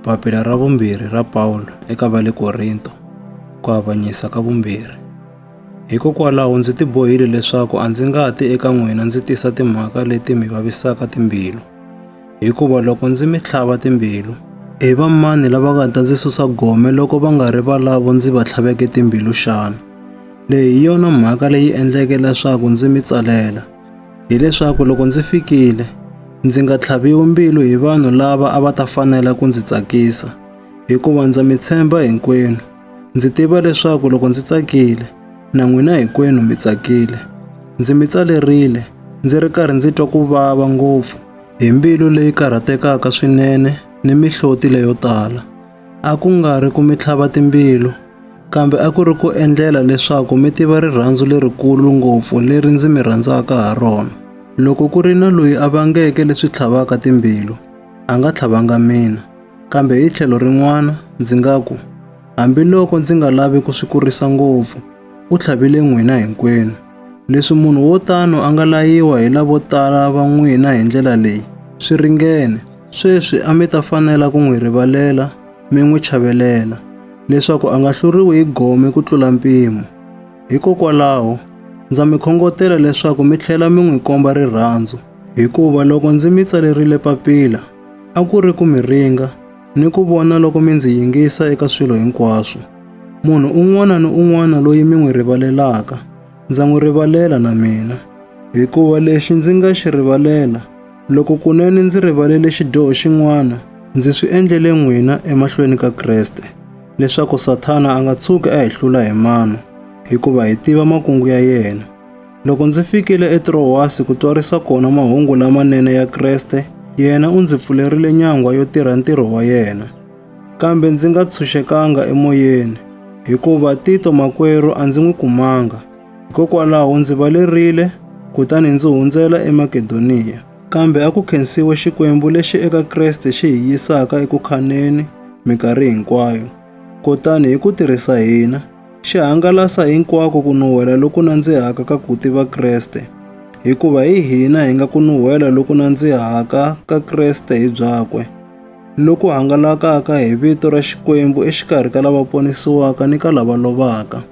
Papila ra vumbirhi ra Pawulo eka va le Korinto, ku avanyisa ka vumbirhi. Hikokwalaho ndzi tibohile leswaku a ndzi nga ti eka n'wina ndzi tisa timhaka leti mi vavisaka timbilu, hikuva loko ndzi mi tlhava timbilu, i va mani lava nga ta ndzi susa gome loko va nga ri valavo ndzi va tlhaveke timbilu xana? Leyi hi yona mhaka leyi endleke leswaku ndzi mi tsalela. hileswaku loko ndzi fikile ndzi nga tlhaviwi mbilu hi vanhu lava a va ta fanela ku ndzi tsakisa hikuva ndza mi tshemba hinkwenu ndzi tiva leswaku loko ndzi tsakile na n'wina hinkwenu mi tsakile ndzi mi tsalerile ndzi ri karhi ndzi twa ku vava ngopfu hi mbilu leyi karhatekaka swinene ni mihloti leyo tala a ku nga ri ku mi tlhava timbilu, kambe a ku ri ku endlela leswaku mi tiva rirhandzu lerikulu ngopfu leri ndzi mi rhandzaka ha rona. Loko ku ri na loyi a vangeke leswi tlhavaka timbilu, a nga tlhavanga mina. Kambe hi tlhelo rin'wana ndzi nga ku, hambiloko ndzi nga lavi ku swi kurisa ngopfu, u tlhavile n'wina hinkwenu. Leswi munhu wo tano a nga layiwa hi lavo tala va n'wina hi ndlela leyi, swi ringene. Sweswi a mi ta fanela ku n'wi rivalela mi n'wi chavelela, leswaku a nga hluriwi hi gome ku tlula mpimo. Hikokwalaho, ndza mi khongotela leswaku mi tlhela mi n'wi komba rirhandzu, hikuva loko ndzi mi tsalerile papila, a ku ri ku mi ringa ni ku vona loko mi ndzi yingisa eka swilo hinkwaswo. Munhu un'wana ni un'wana loyi mi n'wi rivalelaka, ndza n'wi rivalela na mina, hikuva lexi ndzi nga xi rivalela, Loko kunene ndzi rivalele xidyoho xin'wana, ndzi swi endlele n'wina emahlweni ka Kreste, leswaku Sathana a nga tshuki a hi hlula hi mano, hikuva hi tiva makungu ya yena. Loko ndzi fikile eTrowasi ku twarisa kona mahungu lamanene ya Kreste, yena u ndzi pfulerile nyangwa yo tirha ntirho wa yena. Kambe ndzi nga tshunxekanga emoyeni, hikuva Tito makwerhu a ndzi n'wi kumanga. Hikokwalaho ndzi valerile kutani ndzi hundzela eMakedoniya. Kambe a ku khensiwe Xikwembu lexi eka Kreste xi hi yisaka eku khaneni minkarhi hinkwayo. Kutani hi ku tirhisa hina, xi hangalasa hinkwako ku nuhwela loku nandzihaka ka ku tiva Kreste, hikuva hi hina hi nga ku nuhwela loku nandzihaka ka Kreste hi byakwe, loku hangalakaka hi vito ra Xikwembu exikarhi ka lava ponisiwaka ni ka lava lovaka.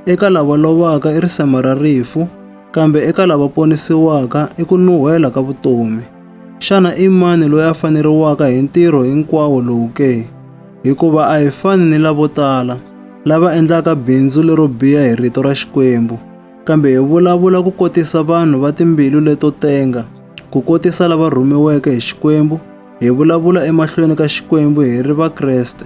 Eka lava lovaka i risema ra rifu, kambe eka lava ponisiwaka i ku nuhela ka vutomi. Xana i mani loyi a faneriwaka hi ntirho hinkwawo lowu ke? Hikuva a hi fani ni lavo tala, lava endlaka bindzu lero biha hi rito ra Xikwembu, kambe hi vulavula ku kotisa vanhu va timbilu leto tenga, ku kotisa lava rhumiweke hi Xikwembu, hi vulavula emahlweni ka Xikwembu hi ri Vakreste.